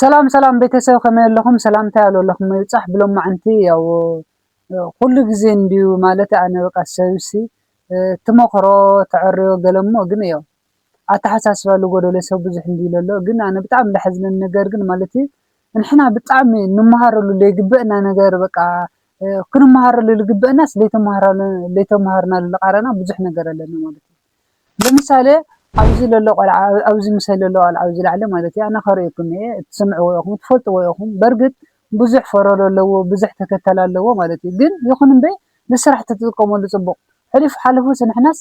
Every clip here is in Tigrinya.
ሰላም ሰላም ቤተሰብ ከመይ ኣለኹም ሰላምታይ ኣለኹም ይብጻሕ ብሎማዓንቲ ያው ኩሉ ግዜ እንድዩ ማለት ኣነ በቃ ሰብሲ ትመኽሮ ተዕርዮ ገለ እሞ ግን ያው ኣተሓሳስባ ዝጎደሎ ሰብ ብዙሕ እንድዩ ለሎ ግን ኣነ ብጣዕሚ ዝሓዝነኒ ነገር ግን ማለት ንሕና ብጣዕሚ ንመሃረሉ ዘይግበእና ነገር በቃ ክንመሃረሉ ዝግበእናስ ዘይተማሃርናሉ ዝቃረና ብዙሕ ነገር ኣለና ማለት እዩ ለምሳሌ ኣብዚ ለሎ ቆልዓ ኣብዚ ምሰ ለሎ ቆልዓ ኣብዚ ላዕሊ ማለት እዩ ኣነ ከርእየኩም እየ ትሰምዕዎ ኢኹም ትፈልጥዎ ኢኹም በርግጥ ብዙሕ ፈረሎ ኣለዎ ብዙሕ ተከታሊ ኣለዎ ማለት እዩ ግን ይኹን እምበይ ንስራሕ ተትጥቀመሉ ፅቡቅ ሕሉፍ ሓሊፉስ ንሕናስ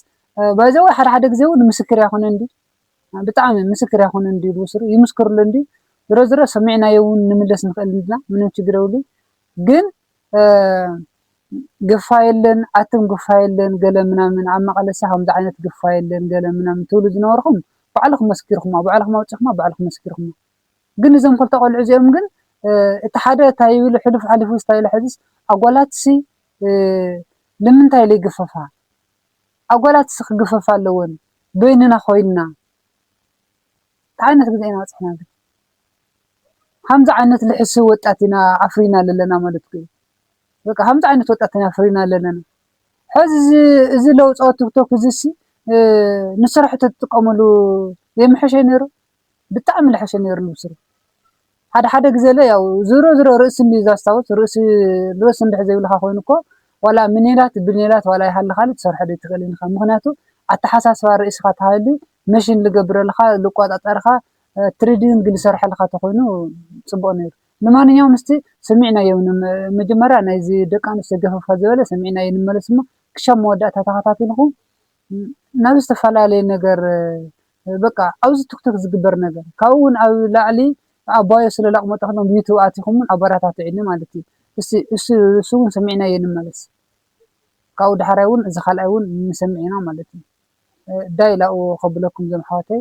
by the way ሓደ ሓደ ግዜ እውን ምስክር ኣይኮነ እንድዩ ብጣዕሚ ምስክር ኣይኮነ እንድዩ ዝወስዱ ይምስክርሉ እንድዩ ዝሮ ዝሮ ሰሚዕናዮ እውን ንምለስ ንኽእል ኢና ምንም ችግር የብሉን ግን ግፋ የለን ኣቱም ግፋ የለን ገለ ምናምን ኣብ መቐለሰ ከምዚ ዓይነት ግፋ የለን ገለ ምናምን ትብሉ ዝነበርኹም ባዕልኹም መስኪርኩማ ባዕልኹም ኣውጺኹማ ባዕልኹም መስኪርኩማ ግን እዞም ክልተ ቆልዑ እዚኦም ግን እቲ ሓደ እንታይ ይብል ሕሉፍ ሓሊፉ እንታይ ኢለ ሕዝስ ኣጓላትሲ ንምንታይ ኢለ ይግፈፋ ኣጓላትሲ ክግፈፋ ኣለወን በይንና ኮይንና እንታይ ዓይነት ግዜ ኢና በጺሕና ግን ከምዚ ዓይነት ልሕሱው ወጣት ኢና ኣፍሪና ለለና ማለት እኮ እዩ በቃ ከምዚ ዓይነት ወጣት ኢና ኣፍሪና ለለና ሕዚ እዚ ለውጾ ቲክቶክ እዚሲ ንስራሕ ተትጥቀምሉ ዘይምሐሸ ነይሩ ብጣዕሚ ልሐሸ ነይሩ ንብስሩ ሓደ ሓደ ግዘለ ያው ዝሮ ዝሮ ርእሲ እንድዩ ዛስታውስ ርእሲ ርእሲ እንድሕር ዘይብልካ ኮይኑ እኮ ዋላ ምኔላት ብኔላት ዋላ ይሃልኻሊ ትሰርሖ ደይትኽእልን ኢኻ ምኽንያቱ ኣተሓሳስባ ርእስኻ ተሃልዩ መሽን ልገብረልኻ ልቆጻጸርኻ ትሪዲንግ ልሰርሐልኻ ተኾይኑ ጽቡቅ ነይሩ ልማንኛውም እስቲ ሰሚዕናዮ መጀመርያ ናይዚ ደቂ ኣንስትዮ ገፈፍ ከዘበለ ሰሚዕናዮ ንመለስ እሞ ክሻብ መወዳእታ ተኸታቲልኹም ናብ ዝተፈላለየ ነገር በቃ ኣብዚ ቱክቱክ ዝግበር ነገር ካብኡ ውን ኣብ ላዕሊ ኣባዮ ስለ ላቅሞጦ ከለኩም ዩቱብ ኣቲኩም ውን ኣባራታትዕኒ ማለት እዩ እስቲ እሱ እሱ ውን ሰሚዕናዮ ንመለስ ካብኡ ዳሕራይ ውን እዚ ካልኣይ ውን ንሰምዕ ኢና ማለት እዩ ዳይ ላኡ ከብለኩም ዞም ኣሕዋተይ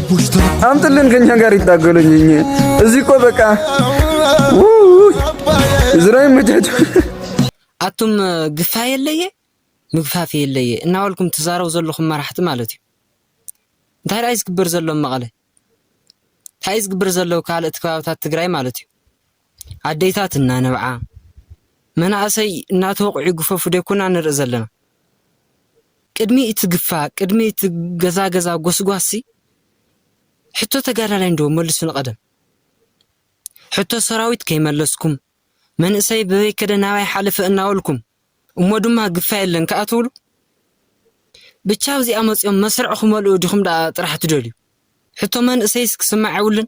አምጥልን ከኛ ጋር ይታገሉኝ እዚህ እኮ በቃ ዝራ ይመቻች ኣቱም ግፋ የለየ ምግፋፍ የለየ እናበልኩም ትዛረቡ ዘለኹም መራሕቲ ማለት እዩ እንታይ ደኣ ዝግበር ዘሎ መቐለ እንታይ ዝግበር ዘሎ ካልኦት ከባብታት ትግራይ ማለት እዩ ኣዴታት እናነብዓ፣ መናእሰይ እናተወቕዑ ይግፈፉ ዶ ኣይኮናን ንርኢ ዘለና? ቅድሚ እቲ ግፋ፣ ቅድሚ እቲ ገዛ ገዛ ጎስጓስሲ ሕቶ ተጋዳላይ እንዶ መልሱ ንቐደም። ሕቶ ሰራዊት ከይመለስኩም፣ መንእሰይ በበይ ከደ ናበይ ሓለፈ እናበልኩም፣ እሞ ድማ ግፋ የለን ከኣ ትብሉ? ብቻ ኣብዚኣ መጺኦም መስርዕ ክመልኡ ዲኹም ደኣ ጥራሕ ትደልዩ? ሕቶ መንእሰይስ ክስማዕ የብሉን?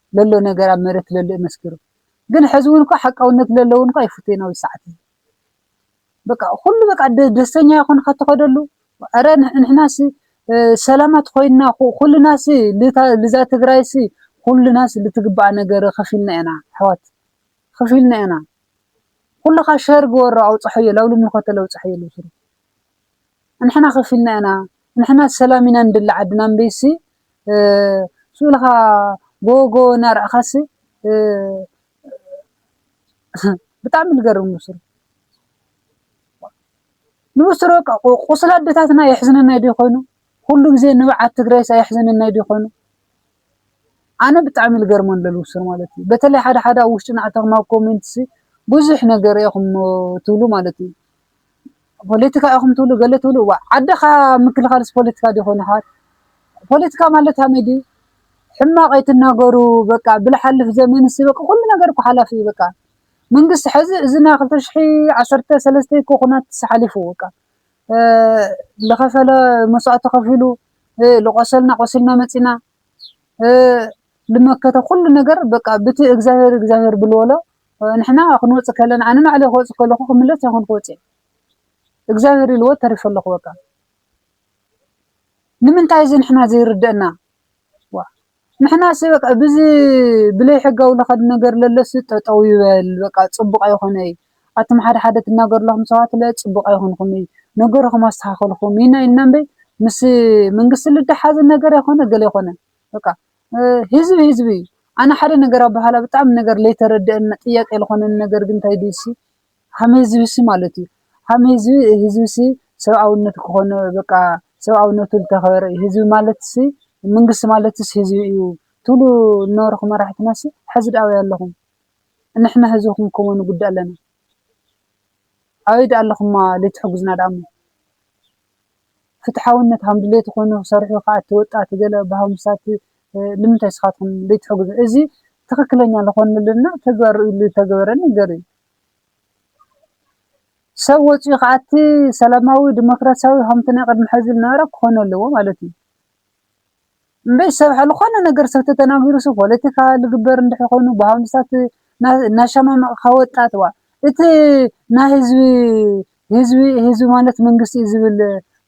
ለሎ ነገር ኣብ መሬት ለሎ እዩ መስኪሩ ግን ሐዚ ውን እኳ ሐቃውነት ለሎ ውን እኳ ይፉተይን ኣብዚ ሰዓት እዚ በቃ ኩሉ በቃ ደስተኛ ይኹን ኸትኸደሉ ኧረ ንሕናሲ ሰላማት ኮይንና ኩልናሲ ልዛ ትግራይሲ ኩልናሲ ልትግባኣ ነገር ኸፊልና ኢና ኣሕዋት ኸፊልና ኢና ኩልኻ ሸር ግበሮ ኣውፅሐዮ ላብሉ ምልኮተ ለውፅሐዮ ልውስሩ ንሕና ከፊልና ኢና ንሕና ሰላም ኢና ንደሊ ዓድና እምበይሲ ስእልኻ ጎወጎወ እናረኣኻሲ ብጣዕሚ ልገርም ብሱሩ ንብሱሩ በቃ ቁስሊ ኣደታትና የሕዝነናይ ዲዩ ኮይኑ ኩሉ ግዜ ንብዓት ትግራይስ ኣየሕዘነናይ ዲዩ ኮይኑ ኣነ ብጣዕሚ ልገርሞ ኣሎ ልብሱር ማለት እዩ በተለይ ሓደ ሓደ ኣብ ውሽጢ ናዕተኽማ ኮሜንትሲ ብዙሕ ነገር ኢኹም ትብሉ ማለት እዩ ፖለቲካ ኢኹም ትብሉ ገለ ትብሉ እዋእ ዓድኻ ምክልኻልስ ፖለቲካ ዲዩ ኮይኑ ይሓዋት ፖለቲካ ማለት ሃመይ ዲዩ ሕማቕ ኣይትናገሩ በቃ ብልሓልፍ ዘመንስ በቃ ኩሉ ነገር እኮ ሓላፊ እዩ በቃ መንግስቲ ሕዚ እዚ ናይ ክልተ ሽሕ ዓሰርተ ሰለስተ እኮ ኩናት ሓሊፉ በቃ ዝኸፈለ መስዋእቲ ከፊሉ ዝቆሰልና ቆሲልና መፂና ልመከተ ኩሉ ነገር በቃ ብቲ እግዚኣብሔር እግዚኣብሔር ብልወሎ ንሕና ክንወጽእ ከለና ኣነ ንባዕለይ ክወጽእ ከለኩ ክምለስ ኣይኮንኩ ወጺኤ እግዚኣብሔር ኢልዎ ተሪፈ ኣለኩ በቃ ንምንታይ እዚ ንሕና ዘይርደእና ዋ ንሕናስ በቃ ብዚ ብለይ ሕጋዊ ለከድ ነገር ለለሲ ጠጠው ይበል በቃ ጽቡቅ ኣይኮነይ ኣቱም ሓደ ሓደ ትናገርለኹም ሰባት ለ ጽቡቅ ኣይኮንኩም እዩ ነገርኹም ኣስተካከልኩም ኢና ኢልና እምበይ ምስ መንግስቲ ልደሓዝ ነገር ኣይኮነ ገለ ኣይኮነ በቃ ህዝቢ ህዝቢ እዩ ኣነ ሓደ ነገር ኣባሃላ ብጣዕሚ ነገር ለይተረደአና ጥያቄ ልኾነኒ ነገር ግን እንታይ ድዩ እሲ ሃም ህዝብሲ ማለት እዩ ሃም ህዝቢ ህዝብሲ ሰብኣውነት ክኾነ በቃ ሰብኣውነቱ ልተኸበረ እዩ ህዝቢ ማለትሲ መንግስቲ ማለትስ ህዝቢ እዩ ትብሉ ልነበርኹም መራሕትናሲ ሐዚ ድኣ ኣበይ ኣለኹም ንሕና ህዝቢ ክንከሞ ንጉዳእ ኣለና ኣበይ ድኣ ኣለኹማ ለይትሕጉዝና ድኣሞ ፍትሓውነት ሃም ድሌት ኾይኑ ሰርሑ ኸኣቲ ወጣቲ ገለ ብሃምሳቲ ልምንታይ ስኻትኩም ደይትሕግዙ እዚ ትኽክለኛ ልኾነልና ተግባር ርእዩ ልተገበረ ነገር እዩ ሰብ ወፂኡ ኸኣቲ ሰላማዊ ዲሞክራሲያዊ ሃምቲ ናይ ቐድሚ ሕዚ ልነበረ ክኾነ ኣለዎ ማለት እዩ እምበይ ሰብ ሐልኾነ ነገር ሰብ ተተናጊሩሱ ፖለቲካ ልግበር እንድሕር ኾይኑ ብሃምሳት ናሻማማቅካ ወጣት ዋእ እቲ ናይ ህዝቢ ህዝቢ ህዝቢ ማለት መንግስቲ እዩ ዝብል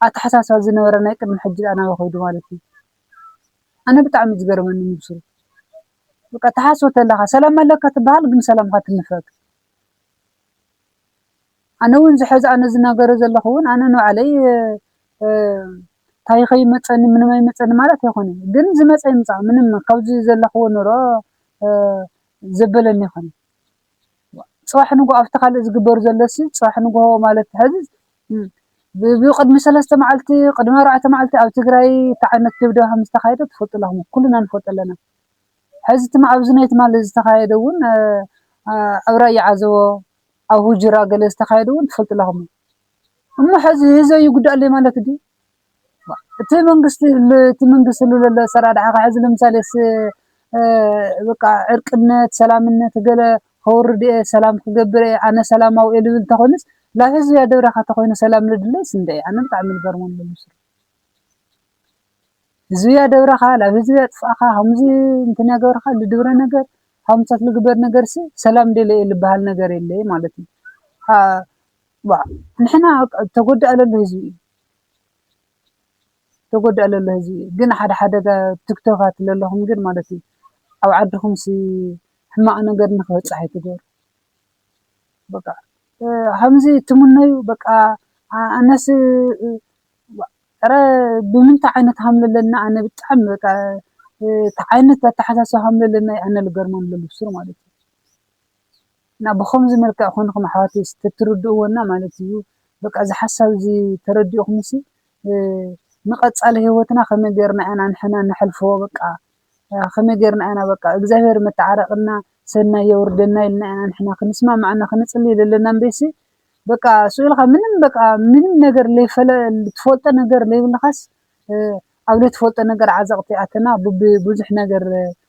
ኣታሓሳስባ ዝነበረ ናይ ቅድሚ ሕጂ ድኣ ናበይ ኸይዱ ማለት እዩ ኣነ ብጣዕሚ እዩ ዝገርመኒ ንሱ በቃ ትሓስቦ ተለኻ ሰላም ኣለካ ትብሃል ግን ሰላምካ ትንፈግ ኣነ ውን ዝሐዚ ኣነ ዝናገሮ ዘለኹ ውን ኣነ ንባዕለይ ታይ ከይመፀኒ ምንም ኣይመፀኒ ማለት ኣይኮነን ግን ዝመፀ ይምፃእ ምንም ካብዚ ዘለክዎ ኑሮ ዘበለኒ ኣይኮነን ፅባሕ ንጉሆ ኣብቲ ካልእ ዝግበር ዘሎሲ ፅባሕ ንጉሆ ማለት ሀዚ ብቅድሚ ሰለስተ መዓልቲ ቅድሚ ኣርባዕተ መዓልቲ ኣብ ትግራይ እትዓይነት ድብደባ ከምዝተካየደ ትፈልጡ ኣለኩም ኩልና ንፈልጦ ኣለና ሀዚ ትማ ኣብዚ ናይ ትማሊ ዝተካየደ እውን ኣብ ራያ ዓዘቦ ኣብ ሁጅራ ገለ ዝተካየደ እውን ትፈልጡ ኣለኩም እሞ ሐዚ ህዝበይ ይጉዳኣለይ ማለት ድዩ ዋእ እቲ መንግስቲ እቲ መንግስቲ ዝህሉ ዘሎ ኣሰራርሓ ከ ሐዚ ለምሳሌ በቃ ዕርቅነት ሰላምነት ገለ ከውርድ እየ ሰላም ክገብር እየ ኣነ ሰላማዊ እየ ዝብል እንተኮይኑስ ላብ ህዝቢ ኣደብራካ ተኮይኑ ሰላም ዝድለይስ እንድዒ ኣነ ብጣዕሚ ዝገርመኒ ዘሎ እሱ እዩ ህዝቢ ኣደብራካ ላብ ህዝቢ ኣጥፋእካ ከምዚ እንትን ያገብርካ ልድብረ ነገር ሃምሳት ልግበር ነገርሲ ሰላም ደልየ እየ ልበሃል ነገር የለይ ማለት እዩ ዋእ ንሕና በቃ ተጎዳኢ ለሎ ህዝቢ እዩ ተጎዳኢ ለሎ ህዝቢ እዩ ግን ሓደ ሓደ ቲክቶካት ለለኹም ግን ማለት እዩ ኣብ ዓድኹም ሲ ሕማቕ ነገር ንክበፅሕ ኣይትገብሩ በቃ ከምዚ ትምነዩ በቃ ኣነስ ረ ብምንታይ ዓይነት ሃም ለለና ኣነ ብጣዕሚ በቃ እቲ ዓይነት ኣተሓሳስባ ሃም ለለና ኣነ ልገርመሉ ለሉ ብሱሩ ማለት እዩ እና ብኸምዚ መልክዕ ኮንኹም ኣሕዋተይ እስቲ ተትርድእዎ እና ማለት እዩ በቃ እዚ ሓሳብ እዚ ተረዲእኹምሲ ንቀፃሊ ህይወትና ከመይ ገይርና ኢና ንሕና ነሕልፎ በቃ ከመይ ገይርና ኢና በቃ እግዚኣብሔር መተዓረቅና ሰናይ የውርደና ኢልና ኢና ንሕና ክንስማማዕ እና ክንፅሊ ዘለና እምበይሲ በቃ ስኡልኻ ምንም በቃ ምንም ነገር ለይፈለ ትፈልጦ ነገር ለይብልኻስ ኣብ ለይትፈልጦ ነገር ዓዘቅቲ ኣተና ብዙሕ ነገር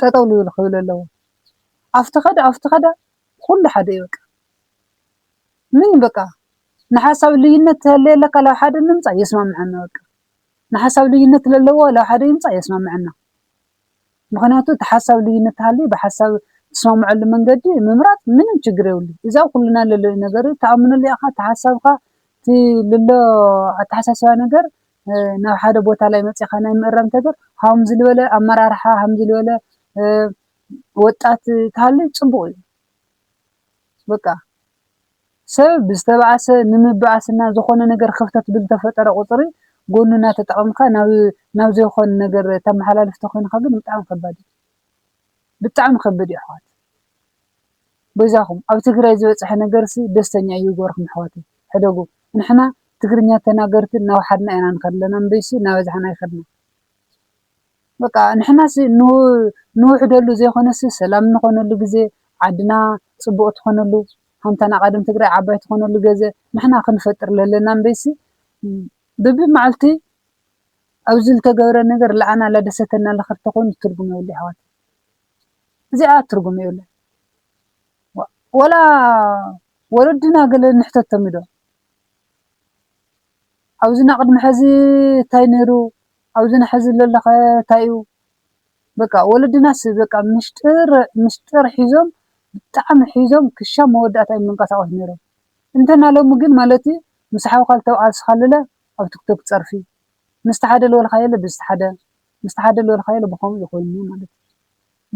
ጠጠው ልብል ክብል ኣለዎ ኣፍቲ ከደ ኣፍቲ ከደ ኩሉ ሓደ እዩ በቃ ምንም በቃ ንሓሳብ ልዩነት ተሃልዩ ኣለካ ናብ ሓደ ንምፃእ የስማምዐና በቃ ንሓሳብ ልዩነት ለለዎ ናብ ሓደ ይምፃእ የስማምዐና ምክንያቱ እቲ ሓሳብ ልዩነት ተሃልዩ ብሓሳብ ትስማምዐሉ መንገዲ ምምራፅ ምንም ችግር የብሉን እዚ ኣብ ኩልና ለሎ ነገር እዩ ተኣምነሉ ኢካ እቲ ሓሳብካ እቲ ልሎ ኣተሓሳስባ ነገር ናብ ሓደ ቦታ ላይ መፂእኻ ናይ ምእራም ተግባር ሃምዚ ልበለ ኣመራርሓ ሃምዚ ልበለ ወጣት ተሃሊ ፅቡቕ እዩ። በቃ ሰብ ብዝተባኣሰ ንምባኣስ እና ዝኾነ ነገር ክፍተት ብዝተፈጠረ ቁፅሪ ጎኑ እናተጠቐምካ ናብ ናብ ዘይኾን ነገር ተመሓላልፍ ተኾይንኻ ግን ብጣዕሚ ከባድ እዩ። ብጣዕሚ ከብድ እዩ ኣሕዋት። በጃኹም ኣብ ትግራይ ዝበፀሐ ነገርሲ ደስተኛ እይገበርኩም ኣሕዋተይ ሕደጉ ንሕና ትግርኛ ተናገርቲ እናውሓድና ኢና ንኸድ ለና እምበይሲ እናበዛሕና ኣይኸድናን በቃ ንሕናሲ ንውሕደሉ ዘይኾነሲ ሰላም ንኾነሉ ግዜ ዓድና ፅቡቅ ትኾነሉ ሃንታና ቃደም ትግራይ ዓባይ ትኾነሉ ገዘ ንሕና ክንፈጥር ለለና እምበይሲ ብብማዕልቲ ኣብዚ ልተገብረ ነገር ለኣና ላደሰተና ለኸድ ተኾይኑ ትርጉም የብሉ ኣሕዋተይ። እዚኣ ትርጉም የብላን ወላ ወለድና ገለ ንሕተቶም ዶ ኣብዚ ናቅድሚ ሐዚ ታይ ነይሩ ኣብዚ ናሐዚ ለሎኸ ታይ እዩ በቃ ወለድናስ በቃ ምሽጥር ምሽጥር ሒዞም ብጣዕሚ ሒዞም ክሻብ መወዳእታ እዮም ዝንቀሳቀሱ ነይሮም እንተና ሎሚ ግን ማለት እዩ ምስ ሓውካ ዝተብዓልስኻለለ ኣብ ትክቶክ ፀርፊ ምስቲ ሓደ ልበልኻዮለ ብዝቲ ሓደ ምስቲ ሓደ ልበልካዮ ልብከምኡ እዩ ኮይኑ ማለት እዩ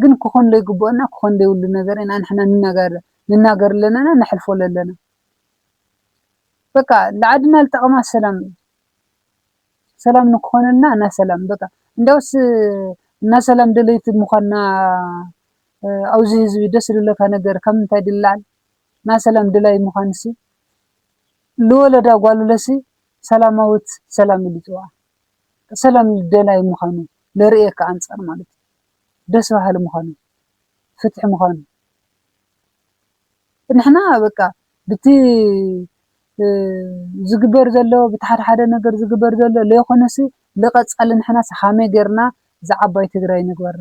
ግን ክኮን ለይግብኦ እና ክኮን ለይብሉ ነገር ኢና ንሕና ንናገር ንናገር ለለና ነሕልፎ ለለና በቃ ልዓድና ልጠቅማ ሰላም እዩ ሰላም ንክኮነልና እና ሰላም በቃ እንዲያውስ እና ሰላም ደለይቲ ምኳንና ኣብዚ ህዝቢ ደስ ልለካ ነገር ካብ ምንታይ ድላል እና ሰላም ድላይ ምኳንሲ ልወለዳ ጓልለሲ ሰላማዊት ሰላም ኢሉ ይፅውዓ ሰላም ደላይ ምዃኑ ለርእየካ ኣንጻር ማለት እዩ። ደስ በሃሊ ምዃኑ ፍትሒ ምዃኑ ንሕና በቃ ብቲ ዝግበር ዘሎ ብቲ ሓደ ሓደ ነገር ዝግበር ዘሎ ለይኮነሲ ልቐጻሊ ንሕናስ ሃመይ ጌርና እዛ ዓባይ ትግራይ ንግበራ።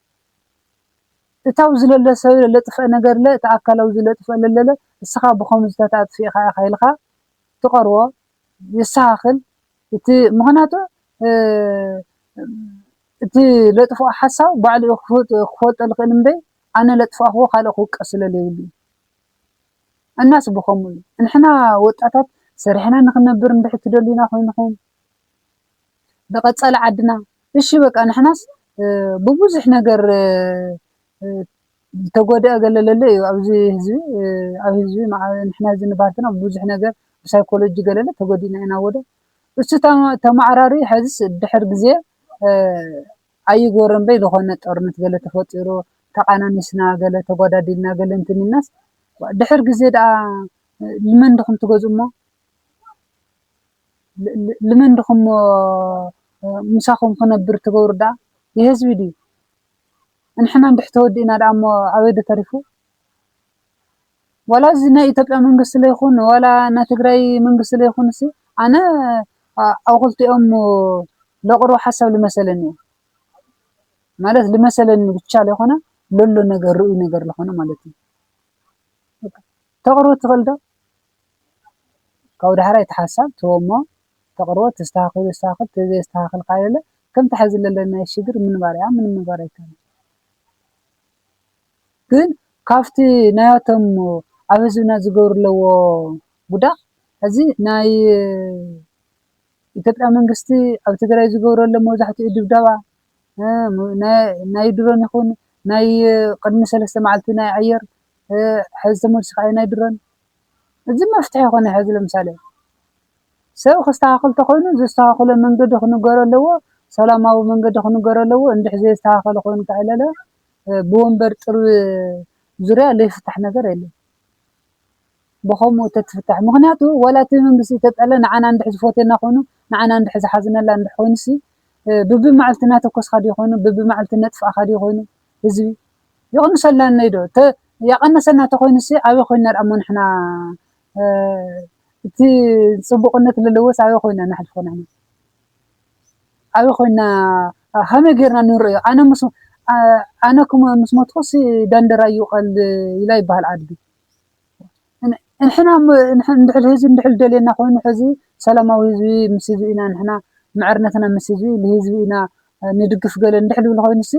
እታው ዝለለ ሰብለ ለጥፈእ ነገርለ እት ኣካላዊ ዝለጥፈእ ለለለ እስኻ ብኸምዙታት ኣጥፊእኻ ኢኻ ኢልካ ትቐርቦ የሰኻኽል እት ምኽናቱ እት ለጥፍኦ ሓሳብ ባዕሉ እዩ ክፈልጦ ልኽእል እምበይ ኣነ ለጥፋእኽዎ ካልእ ክውቀስለ ለይብሉ እዩ እናስ ብኸምኡ እዩ ንሕና ወጣታት ሰሪሕና ንኽነብር እንድሕር ትደልዩና ኮይንኹም ንቀፃሊ ዓድና እሺ በቃ ንሕናስ ብቡዙሕ ነገር ዝተጎደኣ ገለ ለሎ እዩ ኣብዚ ህዝቢ ኣብ ህዝቢ ንሕና እዚ ንባሃል እንተለና ብዙሕ ነገር ብሳይኮሎጂ ገለለ ተጎዲእና ኢና ወደ እሱ ተማዕራሪ ሐዝስ ድሕር ግዜ ኣይግበሮን በይ ዝኾነ ጦርነት ገለ ተፈጢሩ ተቓናኒስና ገለ ተጓዳዲልና ገለ እንትን ኢልናስ ድሕር ግዜ ደኣ ንመን ድኹም ትገዝኡ እሞ ልመን ድኩም እሞ ምሳኩም ክነብር ትገብሩ ዳኣ የህዝቢ ድዩ እንሕና እንድሕ ተወዲእና ዳኣ እሞ ኣበይ ዶ ተሪፉ ዋላ እዚ ናይ ኢትዮጵያ መንግስቲ ለይኩን ዋላ ናይ ትግራይ መንግስቲ ለይኩንሲ ኣነ ኣብ ክልቲኦም ለቅርቦ ሓሳብ ልመሰለኒ እየ ማለት ልመሰለኒ ብቻ ለይኮነ ለሎ ነገር ርእዩ ነገር ለኮነ ማለት እዩ ተቅርቦ ትክእል ዶ ካብኡ ዳሕራይ እቲ ሓሳብ ትህቦ እሞ ተቕርቦ ተስተኻኺሉ የስተኻኽል ተዘየስተኻኽል ከኣ የለ ከምቲ ሐዚ ዘለናዮ ሽግር ምንባር እያ ምንም ምግባር ኣይከኣልን። ግን ካብቲ ናያቶም ኣብ ህዝብና ዝገብሩ ኣለዎ ጉዳእ ሐዚ ናይ ኢትዮጵያ መንግስቲ ኣብ ትግራይ ዝገብሮ ዘሎ መብዛሕትኡ ድብደባ ናይ ድሮን ይኹን ናይ ቅድሚ ሰለስተ መዓልቲ ናይ ኣየር ሐዚ ተመሊሱ ከኣ ናይ ድሮን እዚ መፍትሒ ኣይኮነ ሕዚ ለምሳሌ ሰብ ክስተካከል ተኮይኑ ዘስተካክሎ መንገዲ ክንገሮ ኣለዎ ሰላማዊ መንገዲ ክንገሮ ኣለዎ እንድሕ ዘየስተካከለ ኮይኑ ከዕለለ ብወንበር ጥርብ ዙርያ ለይፍታሕ ነገር የለን ብከምኡ ተትፍታሕ ምክንያቱ ወላ እቲ መንግስቲ ተጠለ ንዓና እንድሕ ዝፎትየና ኮይኑ ንዓና እንድሕ ዝሓዝነላ እንድሕ ኮይኑሲ ብብማዕልቲ ናተኮስካ ድዩ ኮይኑ ብብማዕልቲ ነጥፍኣካ ድዩ ኮይኑ ህዝቢ የቐንሰላነይ ዶ እተ ያቐነሰና ተኾይኑሲ ኣበይ ኮይንና ድኣሞ ንሕና እቲ ጽቡቕነት ለለዎስ ኣበይ ኮይንና ነሕልፎ ንሕና ኣበይ ኮይንና ሃመይ ጌርና ንርእዮ ኣነ ምስ ኣነ ክሞ ምስ ሞትኩሲ ዳንደራ ይውቐል ኢላ ይበሃል ኣድጊ ንሕና ንድሕል ህዝቢ ንድሕል ደልየና ኮይኑ ሕዚ ሰላማዊ ህዝቢ ምስ ህዝቢ ኢና ንሕና ምዕርነትና ምስ ህዝቢ ንህዝቢ ኢና ንድግፍ ገለ ንድሕል ብል ኮይኑሲ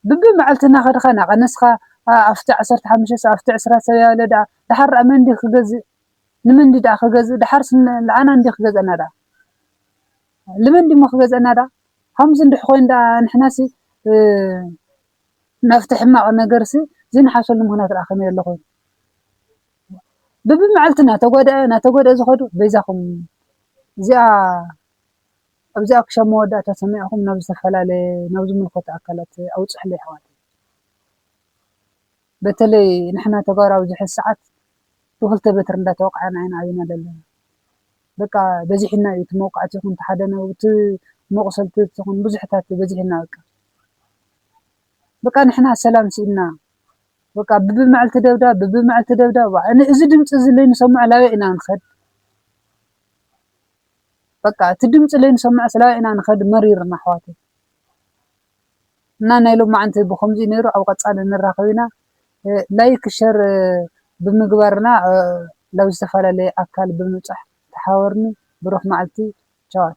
ብቢ መዓልቲ እናኸድኻ እናቐነስካ ኣብቲ ዓሰርተ ሓሙሽተ ሰብ ኣብቲ ዕስራ ሰብ ያለ ደኣ ደሓር ደኣ መን ድዩ ክገዝእ ንመን ድዩ ደኣ ክገዝእ ደሓርስ ንዓና እንድዩ ክገዝኣና ደኣ ልመን ድዩሞ ክገዝኣና ደኣ ኸምዚ እንድሕ ኮይኑ ደኣ ንሕናሲ ናብቲ ሕማቕ ነገርሲ ዘይንሓሰሉ ምኽንያት ደኣ ከመይ ኣሎ ኮይኑ ብቢ መዓልቲ እናተጎድኣ እናተጎድኣ ዝኸዱ በይዛኹም እዚኣ ኣብዚኣ ክሻብ መወዳእታ ሰሚዕኹም ናብ ዝተፈላለየ ናብ ዝምልከቶ ኣካላት ኣውፅሑለይ ኣሕዋተይ በተለይ ንሕና ተጋሩ ኣብዚ ሕዚ ሰዓት ብክልተ በትሪ እንዳተወቃዕና ኢና ኣብና ዘለና በቃ በዚሕና እዩ እቲ መውቃዕቲ ይኹን እቲ ሓደ ነው እቲ መቁሰልቲ ይኹን ብዙሕታት በዚሕና በቃ በቃ ንሕና ሰላም ስኢንና በቃ ብብመዕልቲ ደብዳብ ብብመዕልቲ ደብዳብ እዚ ድምፂ እዚ ለይንሰምዖ ላበይ ኢና ንኸድ በቃ እቲ ድምፂ ለይንሰምዕ ስላበይ ኢና ንከድ መሪርና ኣሕዋተይ እና ናይ ሎማዓንቲ ብከምዚ እዩ ነይሩ ኣብ ቀፃሊ ንራከብ ኢና ላይክ ሸር ብምግባር እና ላብ ዝተፈላለየ ኣካል ብምብፃሕ ተሓበሩኒ ብሩክ ማዓልቲ ቻዋት።